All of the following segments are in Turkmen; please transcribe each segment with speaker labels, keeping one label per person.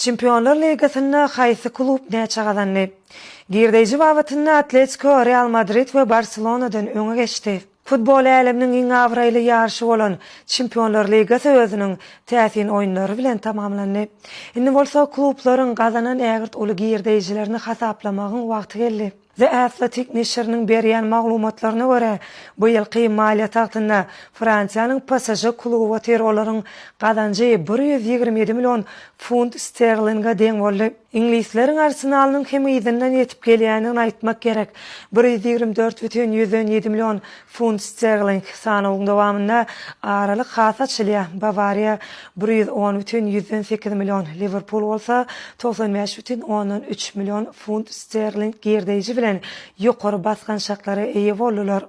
Speaker 1: Çempionlar ligasynda haýsy klub näçe gazandy? Girdeýji babatynda Atletiko, Real Madrid we Barselonadan öňe geçdi. Futbol äleminiň iň abraýly ýaryşy bolan Çempionlar ligasy özüniň täsin oýunlary bilen tamamlandy. Indi bolsa klublaryň gazanan ägirt uly girdeýjilerini hasaplamagyň wagty geldi. The Athletic neşiriniň berýän maglumatlaryna görä, bu ýylky maliýe tagtynda Fransiýanyň PSŽ kluby otyr, olaryň gazanjy bir ýüz ýigrimi ýedi million funt sterlinge deň boldy. Iňlisleriň Arsenalynyň hem yzyndan ýetip gelýändigini aýtmak gerek, bir ýüz ýigrimi dört bütin ýüzden ýedi million Funt sterling sanawyň dowamynda aralyk has açylýar, Bawariýa bir ýüz on bütin ýüzden sekiz million, Liwerpul bolsa togsan bäş bütin ondan üç million funt sterling girdeýji bilen ýokary basgançaklara eýe boldular.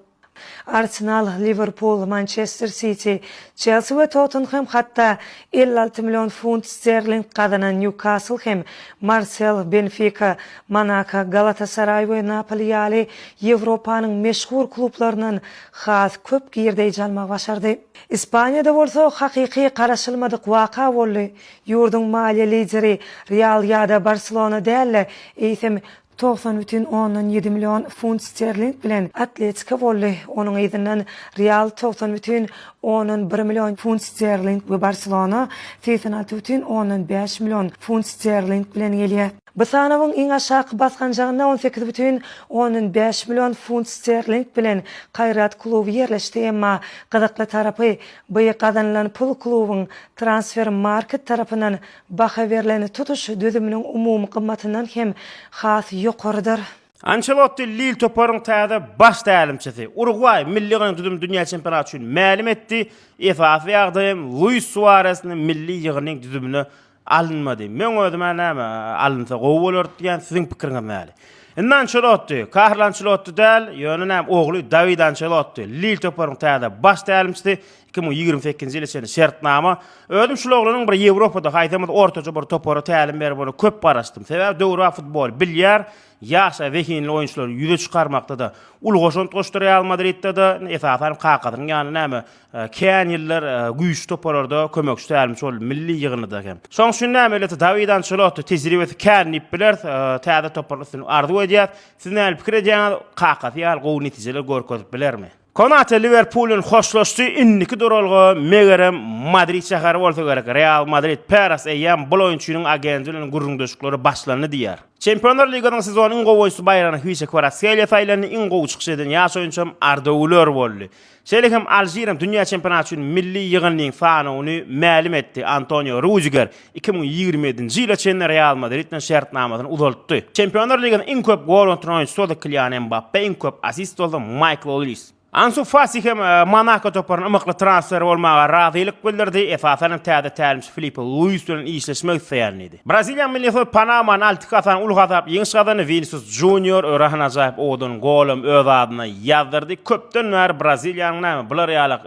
Speaker 1: Arsenal, Liwerpul, Mançester Siti, Çelsi we Tottenhem hatda elli alty million funt sterling gazanan Nýukasl hem Marsel, Benfika, Monako, Galatasaraý we Napoli ýaly Ýewropanyň meşhur klublaryndan has köp girdeýji almagy başardy. Ispaniýada bolsa hakyky garaşylmadyk waka boldy, ýurduň maliýe lideri Real ýa-da Barselona däl-de, eýsem, togsan bütin ondan ýedi million funt sterling bilen Atletiko boldy, onuň yzyndan Real togsan bütin ondan bir million funt sterling we Barselona segsen alty bütin ondan bäş million funt sterling bilen gelýär. Bu sanawyň iň aşaky basgançagynda on sekiz bütin ondan bäş million funt sterling bilen Kaýrat kluby ýerleşdi, emma gyzykly tarapy, by gazanylan pul klubyň Transfer Market tarapyndan baha berlen tutuş düzüminiň umumy gymmatyndan hem has ýokarydyr. Ançelotti
Speaker 2: Lil toparyň täze baş tälimçisi. Urugwaý milli düzüm dünýä çempionaty üçin mälim etdi, esasy ýagdaýam Luis Suaresni milli ýygyndyň düzümine Alynmady. Meň özüm-ä näme, alynsa gowy bolardy diýýän, siziň pikiriňiz näli? Indi Ançelotdi, Karlo Ançelotdi däl, ýöne näme, ogly Dawid Ançelotdi, Lil toparynyň täze baş tälimçisi, iki müň ýigrimi sekizinji ýyla çenli şertnama. Özüm şul oglanyň bir Ýewropada haýsamyz ortaja bir topara tälim berip ony köp garaşdym. Sebäbi döwrebap futboly bilýär, ýaş-a zehinli oýunçylary ýüze çykarmakda-da uly goşant goşdurýar Real Madridde-de, esasan kakasynyň ýanyna näme, Kän ýyllar güýçli toparlarda kömekçi tälimçi boldy, milli ýygyndyda hem. Şoň üçin näme elbetde Dawid Ançelotty tejribesi kän diýip bileris. Täze topara üstünlik arzuw edýäs. Siz nähili pikir edýäňiz? Kakasy ýaly gowy netijeler görkezip bilermi? Konate Liwerpul bilen hoşlaşdy, indiki duralga megerem Madrid şäheri bolsa gerek. Real Madrid Peres eýýäm bul oýunçynyň agenti bilen gürrüňdeşlikleri başlandy diýýär. Çempionlar ligasynyň sezonyň iň gowy oýunçysy baýragyna Hwise Kvaratskhelia saýlandy, iň gowy çykyş eden ýaş oýunçy hem Arda Guler boldy. Şeýle hem Alžiriň dünýä çempionaty üçin milli ýygyndynyň sanawyny mälim etdi. Antonio Rudiger iki müň ýigrimi ýedinji ýyla çenli Real Madrid bilen şertnamasyny uzaltdy. Çempionlar ligasynda iň köp gol atan oýunçysy boldy Kilian Mbappe, iň köp assist boldy Maýkl Olris. Ansu Fati hem Monako toparyna ymykly transfer bolmaga razylyk bildirdi, esasan hem täze tälimçi Filipe Luis bilen işleşmek isleýärin diýdi. Braziliýanyň milli ysy Panama Nalti Kasan uly hasap ýeňiş gazandy, Winisius Junior öre han ajaýyp owadan gol hem öz adyna ýazdyrdy. Köpden bäri Braziliýanyň näme, bular ýaly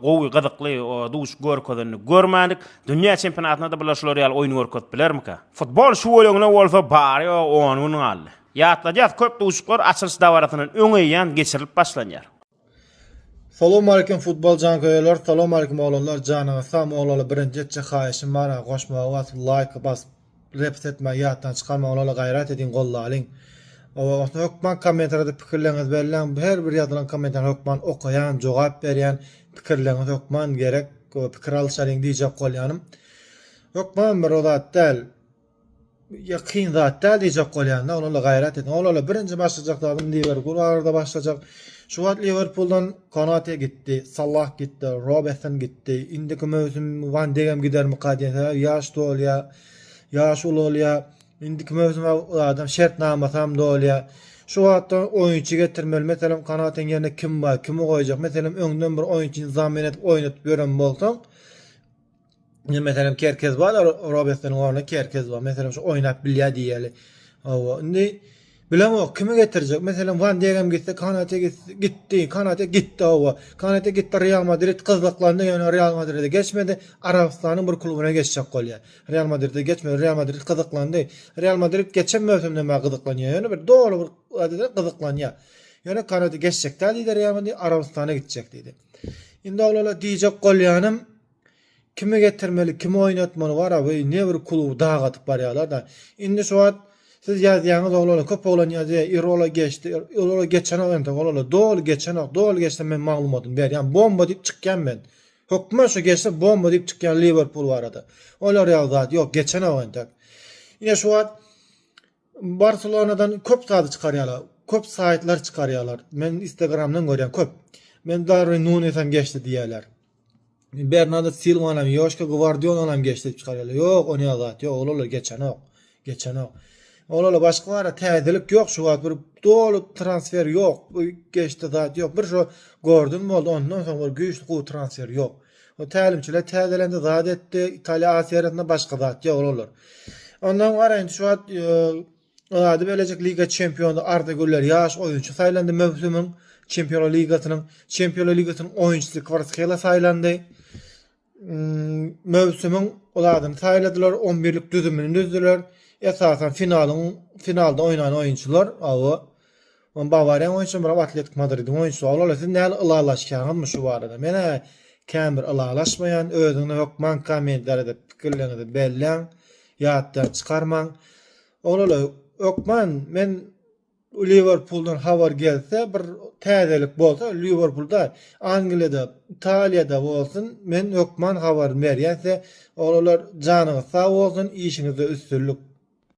Speaker 2: gowy, gyzykly duşuş görkezenini görmändik. Dünýä çempionatynda-da bular şular ýaly oýun görkezip bilermikä? Futbol şu gölegine bolsa bary-ýogy on gün galdy. Ýatladýas, köp duşuşyklar açylyş dabarasyndan öň eýýäm geçirilip başlanýar.
Speaker 3: Salam aleýkum futbol janköýerler salam aleýkum oglanlar janyňyz sag moglala birinji etjek haýyşym bara goşmagy bas laýk bas repst etme ýatdan çykar moglala gaýrat ediň gollalyň owa osna hökman kommentarýada pikirleriňiz belläň her bir ýazylan kommentar hökman okaýan jogap berýän pikirleriňiz hökman gerek pikir alyşalyň diýjek bolýanym hökman bir ozat däl ýakyn zat däl diýjek bolýan-da, onala gaýrat ediň. Onala birinji başlajak zadym Liwerpul barada başlajak. Şu wagt Liwerpuldan Konate gitdi, Salah gitdi, Robertson gitdi. Indiki möwsüm Wan Degem gidermika diýen sebäbi ýaş dolýar, ýaşy ulalýar. Indiki möwsüm adam şertnamasam dolýar. Şu wagtda oýunçy getirmeli. Meselem, Konateň ýerine kim bar, kimi goýjak? Meselem, öňden bir oýunçyny zamen edip oýnatyp ýören bolsaň, Indi meselem Kerkez bar, Robesden orna Kerkez bar. Meselem şu oýnap bilýä diýeli. Hawa, indi bilen o kimi getirjek? Meselem Van Degem gitse, Kanate gitdi, Kanate gitdi hawa. Kanate gitdi Real Madrid gyzyklandy, ýöne Real Madrid geçmedi. Arabystanyň bir klubuna geçjek bolýa. Real Madrid geçmedi, Real Madrid gyzyklandy. Real Madrid geçen möwsümde mä gyzyklanýa, ýöne bir doly bir adada gyzyklanýa. Ýöne Kanate geçjek däl diýdi Real Madrid, Arabystana gitjek diýdi. Indi oglala diýjek bolýanym, Kimi getirmeli, kimi oýnatmaly bar-a, weý, nebir kluby dag atyp barýarlar-da. Indi şu wagt siz ýazýaňyz oglanlar, köp oglan ýazýar, Irola geçdi, Irola geçenok entek oglanlar, doly geçenok, doly geçse men maglumatymy berýän, bomba diýip çykýan men. Hökman şu geçse bomba diýip çykýan Liwerpul barada. Olar ýaly zat ýok, geçenok entek. Ine şu wagt Barselonadan köp zady çykarýarlar. Köp saýtlar çykarýarlar. Men Instagramdan görýän köp. Men Darwin Nunes hem geçdi diýýärler. Bernardo Silva hem, Joşka Gwardiol hem geçdi diýip çykarýarlar. Ýok, ony azat. Ýok, olarlar geçenok. Geçenok. Olarlar başga bar, täzelik ýok şu wagt. Bir doly transfer ýok. Bu geçdi zat ýok. Bir şu Gordon boldy, ondan soň bir güýçli gowy transfer ýok. O tälimçiler täzelendi, zat etdi. Italiýa A seriýasynda başga zat ýok olar. Ondan garaýyn şu wagt ady belejik liga çempiony Arda Güler ýaş oýunçy saýlandy möwsümiň Çempionlar ligasynyň Çempionlar ligasynyň oýunçysy Kvaratskhelia saýlandy. Hmm, möwsümiň ol adyny saýladylar, 11-lik düzümini düzdüler. Esasan finalyň finalda oýnan oýunçylar, awa. Ony Bawariýaň oýunçysy bilen Atletik Madridiň oýunçysy bar. Olar siz näl ylalaşýaňyzmy şu barada? Men-ä kän bir ylalaşmaýan. Özüňiz hökman kommentarýada pikirleriňizi belläň. Ýatdan çykarmaň. Oglanlar, hökman men Liwerpuldan habar gelse, bir täzelik bolsa, Liwerpulda, Angliýada, Italiýada bolsun, men hökman habaryny berýän size. Oglanlar, janyňyz sag bolsun, işiňizde üstünlik!